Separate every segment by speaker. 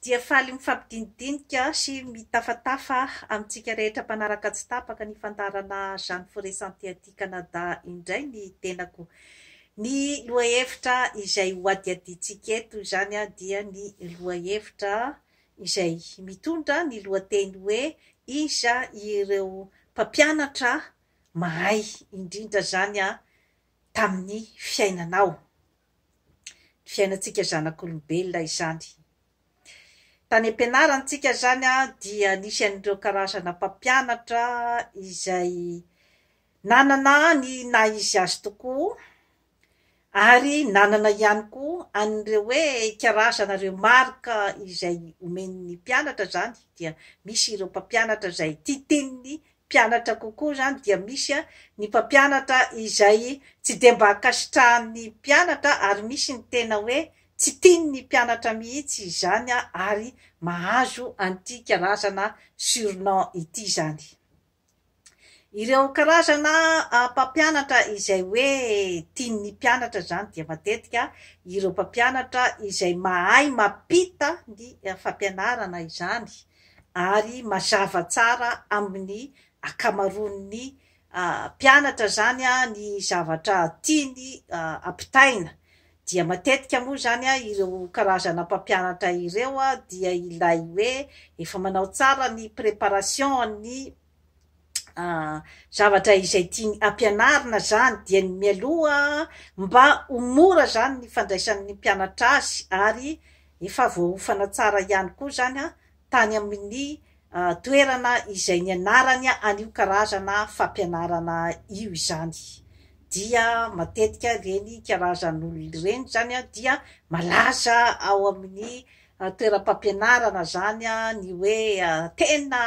Speaker 1: dia faly mifampidinidinika sy mitafatafa amintsika rehetra mpanaraka tsy tapaka ny fandaharana Jeanne Forest Santé aty Canada indray ny tenako. Ny lohahevitra izay hohadihadiantsika eto izany dia ny lohahevitra izay mitondra ny lohateny hoe Iza ireo mpampianatra mahay indrindra izany tamin'ny fiainanao? ny fiainantsika zanak'olombelona izany. Tany am-pianarantsika izany dia nisy an'ireo karazana mpampianatra izay nanana ny naha izy azy tokoa ary nanana ihany koa an'ireo hoe karazana remarque izay omen'ny mpianatra izany dia misy ireo mpampianatra izay tia teniny mpianatra kokoa izany dia misy ny mpampianatra izay tsy dia mba ankasitrahan'ny mpianatra ary misy ny tena hoe tsy tian'ny mpianatra mihitsy izany ary mahazo an'ity karazana surnom ity izany ireo karazana mpampianatra izay hoe tian'ny mpianatra izany dia matetika ireo mpampianatra izay mahay mampita ny fampianarana izany ary mazava tsara amin'ny ankamaroan'ny mpianatra izany ny zavatra tiany ampitaina dia matetika moa izany ireo karazana mpampianatra ireo dia ilay hoe efa manao tsara ny préparation-ny zavatra izay tiany ampianarina zany dia ny mialoha mba ho mora zany ny fandraisan'ny mpianatra azy ary efa voaofana tsara ihany koa zany a tany amin'ny toerana izay nianarany an'io karazana fampianarana io izany dia matetika ireny karazan'olona ireny zany dia malaza ao amin'ny toeram-pampianarana zany a ny hoe tena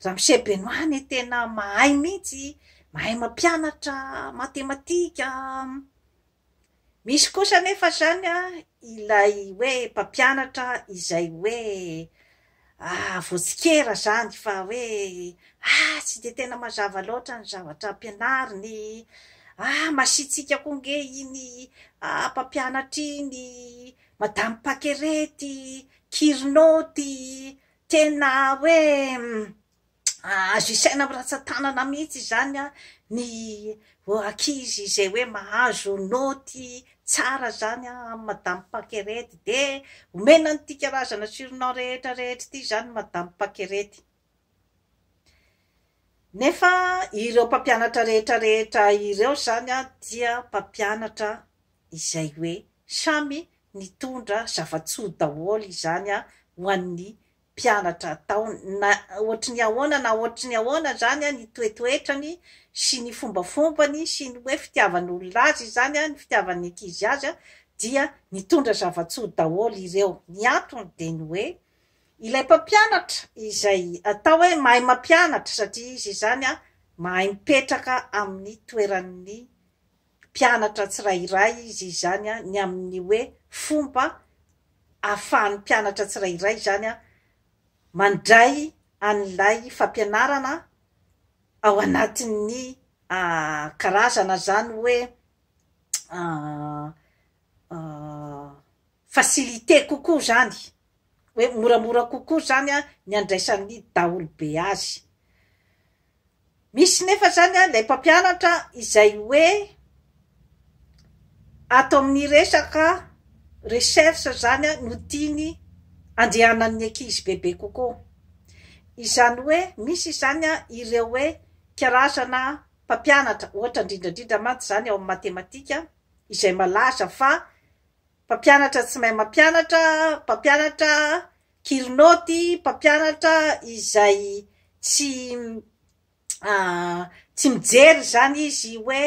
Speaker 1: ramose benoît ne tena mahay mihitsy mahay mampianatra matematika misy kosa nefa zany a ilay hoe mpampianatra izay hoe voatsikera zany fa hoe ah tsy de tena mazava loatra ny zavatra ampianariny ah masiantsika koa nge iny mpampianatra iny Madame pakere ty kirno ty tena hoe azo isaina am ratsatanana mihitsy izany an ny ankizy zay hoe mahazo naoty tsara zany an am madame pakerety de omena an'ity karazana surnom rehetra rehetra ity zany madame pakerety. Nefa ireo mpampianatra rehetra rehetra ireo izany dia mpampianatra izay hoe samy nitondra zava-tsoa daholo izany ho an'ny mpianatra tao na ohatry ny ahoana na ohatry ny ahoana izany ny toetoetrany sy ny fombafombany sy ny hoe fitiavan'olona azy izany, ny fitiavan'ny ankizy azy dia nitondra zava-tsoa daholo ireo. Ny antony dia ny hoe. Ilay mpampianatra izay atao hoe mahay mampianatra satria izy izany mahay mipetraka amin'ny toeran'ny mpianatra tsirairay izy izany ny amin'ny hoe fomba ahafahan'ny mpianatra tsirairay izany mandray an'ilay fampianarana ao anatin'ny karazana izany hoe facilité kokoa zany hoe moramora kokoa zany an ny andraisan'ny daholobe azy. Misy nefa zany an ilay mpampianatra izay hoe ato amin'ny resaka recherche zany an no tiany andehanan'ny ankizy bebe kokoa. Izany hoe misy izany an ireo hoe karazana mpampianatra ohatra indrindrandrindra mantsy zany ao amin'ny matematika izay malaza fa Mpampianatra tsy mahay mampianatra, mpampianatra kilo naoty, mpampianatra izay tsy tsy mijery izany izy hoe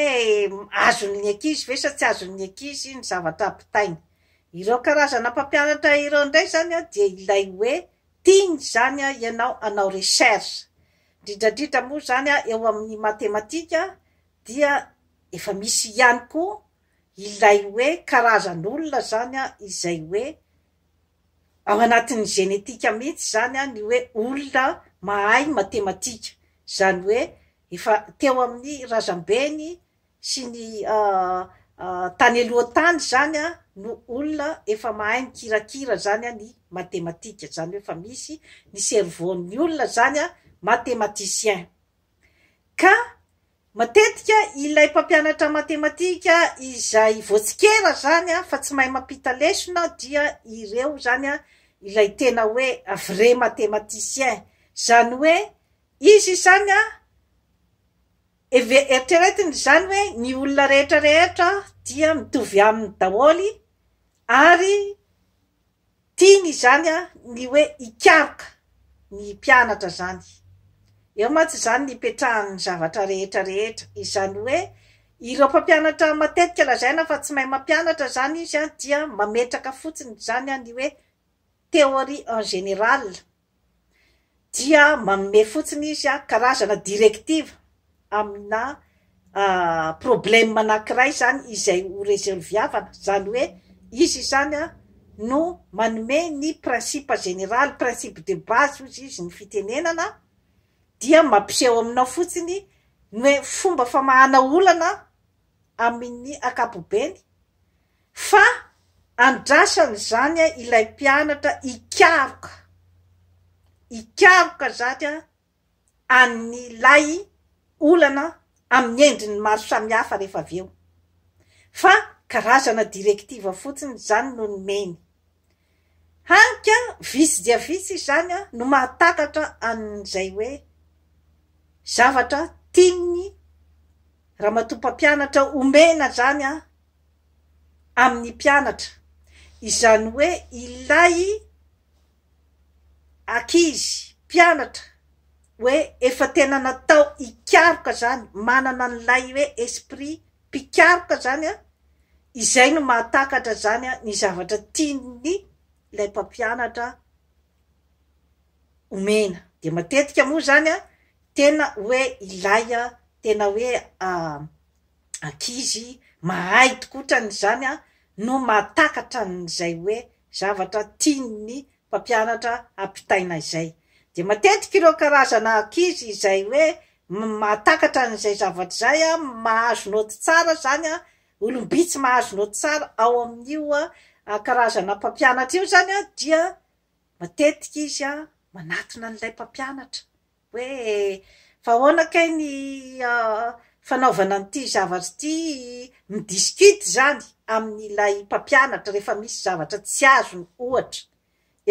Speaker 1: azon'ny ankizy ve sa tsy azon'ny ankizy ny zavatra ampitainy. Ireo karazana mpampianatra ireo indray izany dia ilay hoe tiany izany ianao hanao recherche. Indrindra indrindra moa izany eo amin'ny matematika dia efa misy ihany koa ilay hoe karazan'olona zany an izay hoe ao anatin'ny génétique mihitsy zany an ny hoe olona mahay matematika zany hoe efa teo amin'ny razambeny sy ny tany aloha tany zany an no olona efa mahay mikirakira zany an ny matematika zany hoe efa misy ny cerveau ny olona zany an matematicien ka Matetika ilay mpampianatra matematika izay voatsikera izany an, fa tsy mahay mampita lesona dia ireo izany an, ilay tena hoe vrai matematicien, izany hoe izy izany an, eritreretiny izany hoe ny olona rehetra rehetra dia mitovy aminy daholo ary Tiany izany ny hoe hikaroka ny hipianatra izany. Eo mantsy izany ny hipetrahan'ny zavatra rehetra rehetra. Izany hoe ireo mpampianatra matetika lazaina fa tsy mahay mampianatra izany izy dia mametraka fotsiny izany ny hoe théorie en général. dia manome fotsiny izy a karazana directive amina problème anankiray izany izay ho resolviavana, izany hoe izy izany a no manome ny principe général, principe de base hozy izy ny fitenenana dia mampiseho aminao fotsiny ny hoe fomba famahana olana amin'ny ankapobeny fa andrasany izany ilay mpianatra hikaroka, hikaroka izany an'ilay olana amin'ny endriny maro samihafa rehefa avy eo fa karazana directive fotsiny izany no nomeny. Hany ka vitsy dia vitsy izany no mahatakatra an'izay hoe zavatra tian'ny ramatoa mpampianatra omena izany amin'ny mpianatra, izany hoe ilay ankizy mpianatra hoe efa tena natao hikaroka izany, manana an'ilay hoe esprit mpikaroka izany an, izay no mahatakatra izany an, ny zavatra tian'ny ilay mpampianatra omena. Dia matetika moa izany an, tena hoe ilay an, tena hoe ankizy mahay tokoa ohatran'izany an, no mahatakatra an'izay hoe zavatra tian'ny mpampianatra ampitaina izay. Dia matetika ireo karazana ankizy izay hoe mahatakatra an'izay zavatra izay, mahazo naoty tsara izany, olom-bitsy mahazo naoty tsara ao amin'io karazana mpampianatra io izany dia matetika izy manatona an'ilay mpampianatra. hoe fa ahoana kay ny fanaovana an'ity zavatra ity, mi-discute izany amin'ilay mpampianatra rehefa misy zavatra tsy azony ohatra,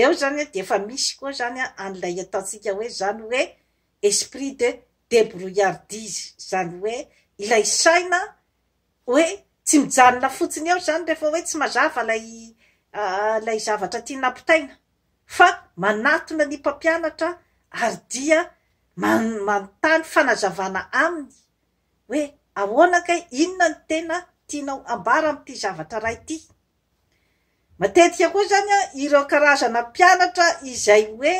Speaker 1: eo izany dia efa misy koa izany an'ilay ataontsika hoe izany hoe esprit de débrouillardise, izany hoe ilay saina hoe tsy mijanona fotsiny eo izany rehefa hoe tsy mazava ilay zavatra tiana ampitaina, fa manatona ny mpampianatra ary dia manontany fanazavana aminy hoe ahoana kay inona no tena tianao hambara amin'ity zavatra iray ity. Matetika koa izany an, ireo karazana mpianatra izay hoe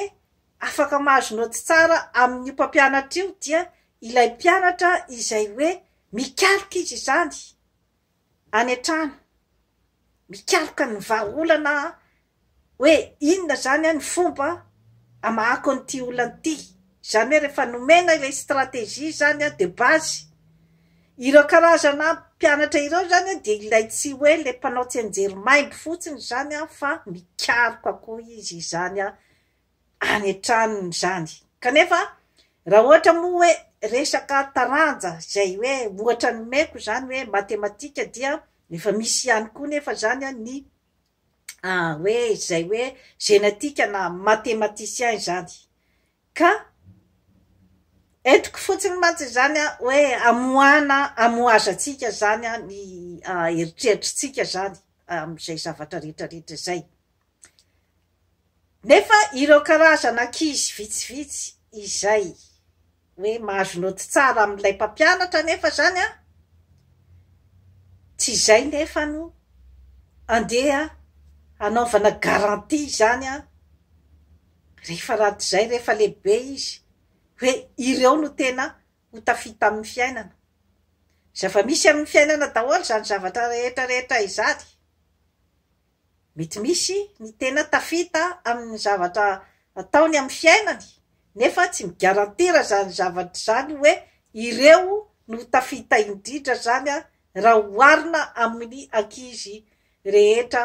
Speaker 1: afaka mahazo naoty tsara amin'io mpampianatra io dia ilay mpianatra izay hoe mikalika izy izany. any an-trano mikaroka ny vahaolana hoe inona izany ny fomba hamahako an'ity olana ity. Izany hoe rehefa nomena ilay stratégie izany de base, ireo karazana mpianatra ireo izany dia ilay tsy hoe ilay mpanao tsianjery maimbo fotsiny izany fa mikaroka koa izy izany any an-tranony izany. Kanefa, raha ohatra moa hoe resaka taranja izay hoe ohatra nomeko izany hoe matematika dia efa misy ihany koa nefa izany ny hoe izay hoe genetika na matematicien izany. Ka entiko fotsiny mantsy izany hoe amoahana amohazantsika izany ny eritreritritsika izany amin'izay zavatra rehetrarehetra izay. Nefa ireo karazana ankizy vitsivitsy izay hoe mahazo naoty tsara amin'ilay mpampianatra anefa izany an, tsy izay nefa no andeha hanaovana garantie izany an, rehefa raty izay rehefa lehibe izy hoe ireo no tena ho tafita amin'ny fiainana. Zava-misy amin'ny fiainana daholo izany zavatra rehetra rehetra izany. Mety misy ny tena tafita amin'ny zavatra ataony amin'ny fiainany nefa tsy migarantira izany zavatra izany hoe ireo no tafita indrindra izany raha oharina amin'ny ankizy rehetra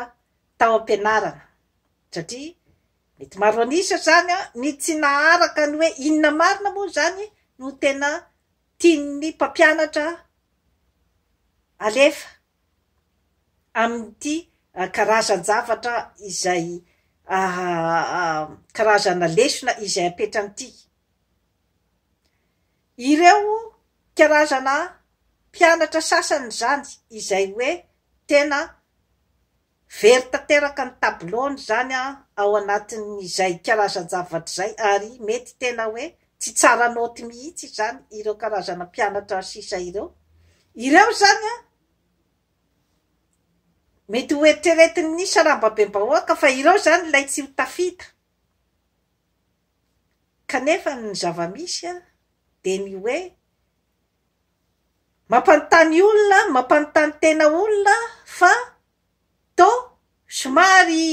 Speaker 1: tao am-pianarana satria mety maro an'isa izany ny tsy naharaka ny hoe inona marina moa izany no tena tian'ny mpampianatra alefa amin'ity karazan-javatra izay karazana lesona izay apetran'ity. Ireo karazana mpianatra sasany izany izay hoe tena Very tanteraka ny tabilon izany ao anatin'izay karazan-javatra izay ary mety tena hoe tsy tsara naoty mihitsy izany ireo karazana mpianatra sisa ireo. Ireo izany mety ho eritreretin'ny sarambabem-bahoaka fa ireo izany ilay tsy ho tafita kanefa ny zava-misy dia ny hoe Mampanontany olona, mampanontany tena olona fa toa somary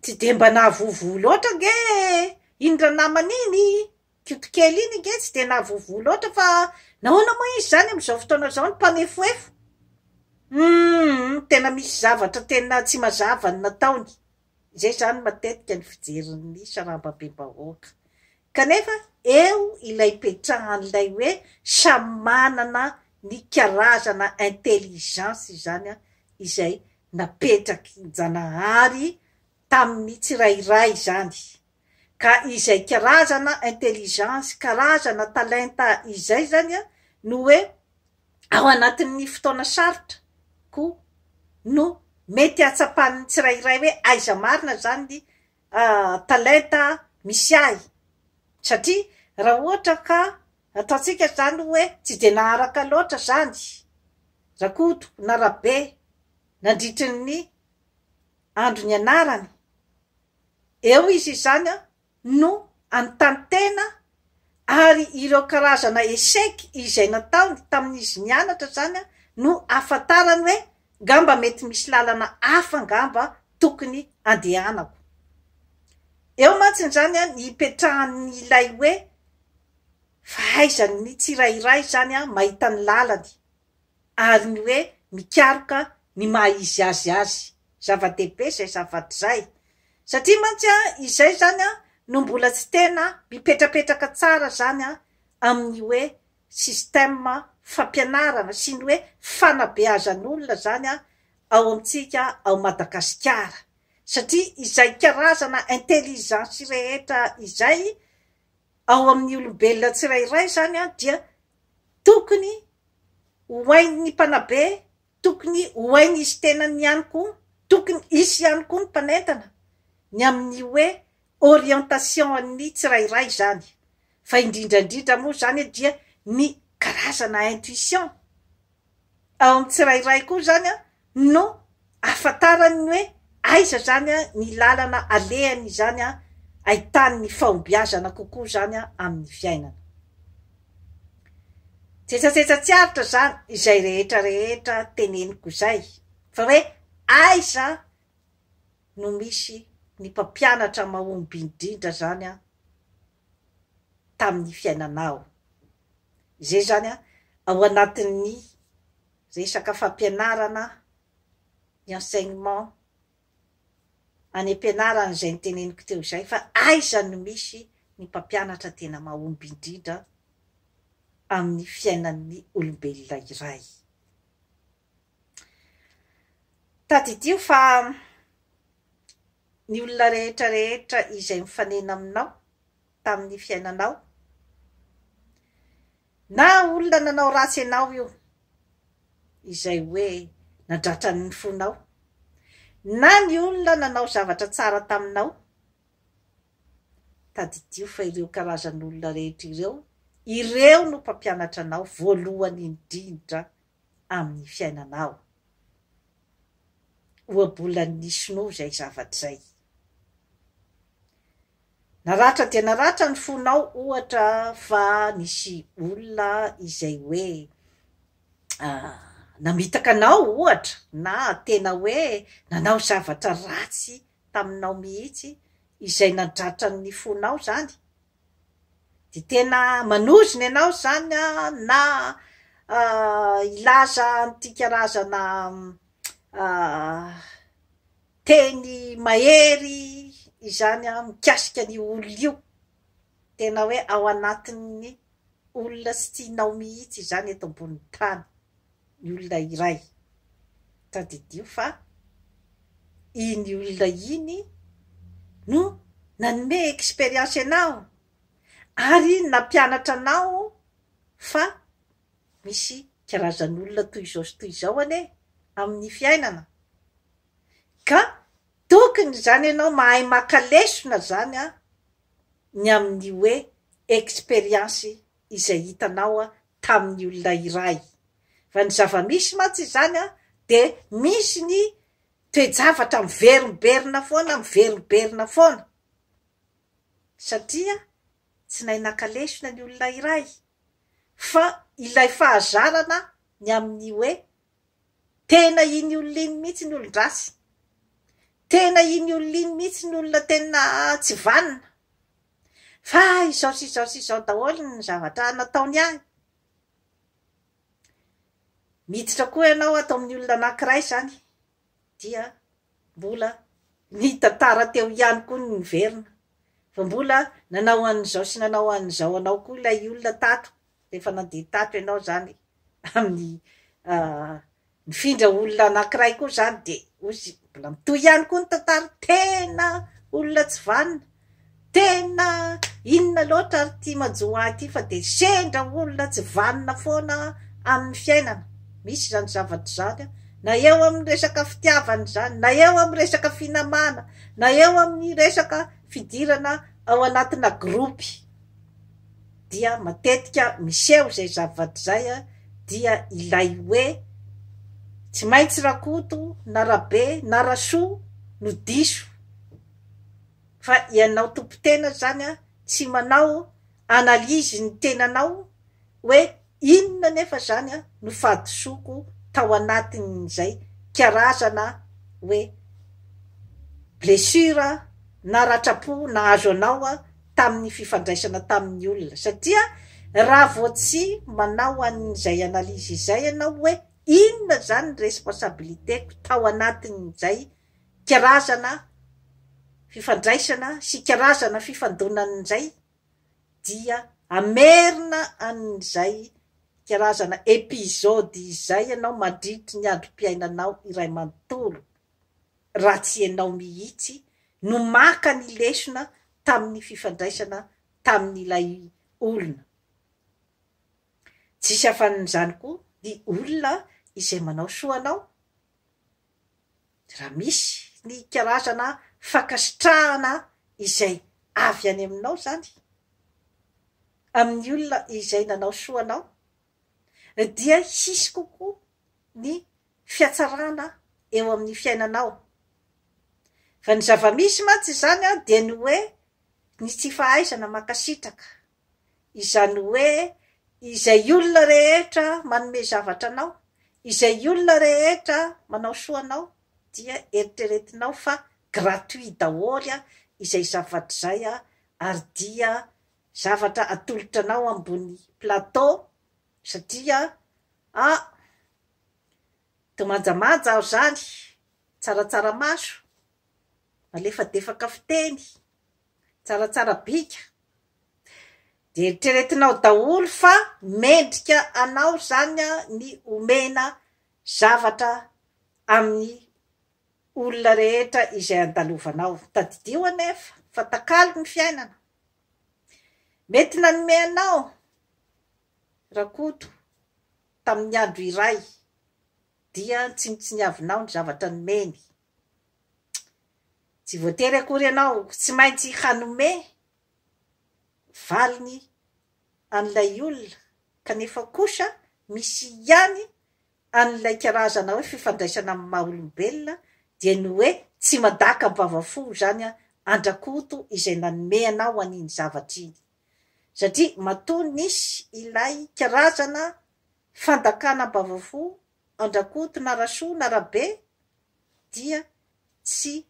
Speaker 1: tsy dia mba nahavoavoa loatra ange iny ranamana iny, koto kely iny ange tsy dia nahavoavoa loatra fa nahoana moa izy izany amin'izao fotoana izao no mpanefoefo? Humm tena misy zavatra tena tsy mazava ny nataony. Izay izany matetika ny fijerin'ny sarambabem-bahoaka. Kanefa eo ilay ipetrahan'ilay hoe samy manana ny karazana intelligence izany izay napetrakin-Janahary tamin'ny tsirairay izany. ka izay karazana intelligence, karazana talenta izay zany no hoe ao anatin'ny fotoana sarotra koa no mety ahatsapan'ny tsirairay hoe aiza marina zany talenta misy ahy satria raha ohatra ka ataontsika zany hoe tsy dia naharaka loatra zany Rakoto na Rabe nandritry ny andro nianarany Eo izy izany no anontany tena ary ireo karazana echec izay nataony tamin'izy nianatra izany no ahafantarany hoe ngamba mety misy lalana hafa ngamba tokony andehanako. Eo mantsiny izany ny hipetrahan'ilay hoe fahaizan'ny tsirairay izany mahita ny lalany. ary ny hoe mikaroka ny maha izy azy azy, zava-dehibe izay zavatra izay, satria mantsy izay izany no mbola tsy tena mipetrapetraka tsara izany amin'ny hoe système fampianarana sy ny hoe fanabeazan'olona izany ao amintsika ao Madagasikara, satria izay karazana intelligence rehetra izay ao amin'ny olombelona tsirairay izany dia tokony ho hain'ny mpanabe, tokony ho hain'izy tenany ihany koa, tokony hisy ihany koa ny mpanentana ny amin'ny hoe orientation-an'ny tsirairay izany, fa indrindra indrindra moa izany dia ny karazana intuition. ao amin'ny tsirairay koa izany no ahafantarany ny hoe aiza izany ny lalana alehany izany ahitany ny fahombiazana kokoa izany amin'ny fiainana. Jetsajetsa tsy aritra izany izay rehetra rehetra teneniko izay fa hoe aiza no misy ny mpampianatra mahomby indrindra izany tamin'ny fiainanao. Izay izany ao anatin'ny resaka fampianarana, ny enseignement, any am-pianarana izay noteneniko teo izay fa aiza no misy ny mpampianatra tena mahomby indrindra amin'ny fiainan'ny olombelona iray. Tadidio fa ny olona rehetra rehetra izay nifanena aminao tamin'ny fiainanao, na olona nanao ratsy anao io, izay hoe nadratra ny fonao, na ny olona nanao zavatra tsara taminao, tadidio fa ireo karazan'olona rehetra ireo, ireo no mpampianatra anao voalohany indrindra amin'ny fiainanao. Ohabolan'ny sinoa izay zavatra izay. Naratra dia naratra ny fonao ohatra fa nisy olona izay hoe namitaka anao ohatra na tena hoe nanao zavatra ratsy taminao mihitsy izay nadratra ny fonao izany Dia tena manozona ianao izany na hilaza an'ity karazana teny mahery izany mikasika an'io olona io. Tena hoe ao anatin'ny olona tsy tianao mihitsy izany eto ambonin'ny tany. ny olona iray. Tadidio fa iny olona iny no nanome expérience anao ary iny nampianatra anao fa misy karazan'olona toy izao sy toy izao anie amin'ny fiainana ka tokony izany ianao mahay maka lesona izany ny amin'ny hoe expérience izay hitanao tamin'ny olona iray. Raha ny zava-misy mantsy izany dia misy ny toe-javatra miverimberina foana, miverimberina foana, satria tsy nahay naka lesona ny olona iray, fa ilay fahazarana ny amin'ny hoe tena iny olona iny mihitsy ny olon-dratsy, tena iny olona iny mihitsy ny olona tena tsy vanona, Fa izao sy izao sy izao daholo ny zavatra nataony ahy. Miditra koa ianao ato amin'ny olona anankiray izany, dia mbola nitantara teo ihany koa ny niverina, fa mbola nanao an'izao sy nanao an'izao anao koa ilay olona tato, rehefa nandeha tato ianao izany amin'ny Mifindra olona anankiray koa izany dia ozy mbola mitohy ihany koa ny tantara, tena olona tsy vanona, tena inona loatra ary ity manjo ahy ity fa dia sendra olona tsy vanona foana amin'ny fiainana, misy izany zavatra izany na eo amin'ny resaka fitiavana izany, na eo amin'ny resaka finamana, na eo amin'ny resaka fidirana ao anatina groupe. dia matetika miseho izay zava-t izay dia ilay hoe tsy maintsy Rakoto na Rabe na Rasoa no diso fa ianao tompon-tena zany tsy manao analyse ny tenanao hoe Inona anefa izany no fahadisoako tao anatin'izay karazana hoe blessure na ratram-po nahazo anao tamin'ny fifandraisana tamin'ny olona? Satria raha vao tsy manao an'izay analyse izay ianao hoe inona izany ny responsabilité-ko tao anatin'izay karazana fifandraisana sy karazana fifandonana izay, dia hamerina an'izay karazana episode izay ianao mandritry ny androm-piainanao iray manontolo, raha tsy ianao mihitsy no maka ny lesona tamin'ny fifandraisana tamin'ilay olona. Tsisy afanin'izany koa ny olona izay manao soa anao. Raha misy ny karazana fankasitrahana izay avy any aminao izany amin'ny olona izay nanao soa anao, dia hisy kokoa ny fihatsarana eo amin'ny fiainanao. Fa ny zava-misy mantsy izany dia ny hoe ny tsy fahaizana mankasitraka. Izany hoe izay olona rehetra manome zavatra anao, izay olona rehetra manao soa anao dia eritreretinao fa gratuit daholo izay zavatra izay ary dia zavatra atolotra anao ambony plateau satria ah to manjamanja aho izany, tsaratsara maso, malefadefaka fiteny. Tsaratsara bika. Dia eritreretinao daholo fa mendrika anao izany ny omena zavatra amin'ny olona rehetra izay andalovanao. Tadidio anefa fa takalo ny fiainana. Mety nanome anao Rakoto tamin'ny andro iray dia tsy nitsiniavinao ny zavatra nomeny. Tsy voatery akory ianao tsy maintsy hanome valiny an'ilay olona kanefa kosa misy ihany an'ilay karazana hoe fifandraisana amin'ny maha olombelona dia ny hoe tsy madaka am-bava fo izany an-dRakoto izay nanome anao an'iny zavatra iny satria matoa nisy ilay karazana fandakana am-bava fo Andrakoto na Rasoa na Rabe dia tsy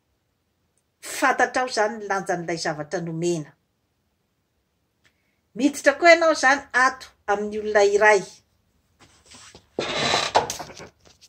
Speaker 1: fantatrao izany ny lanjan'ilay zavatra nomena. Miditra koa ianao izany ato amin'ny olona iray.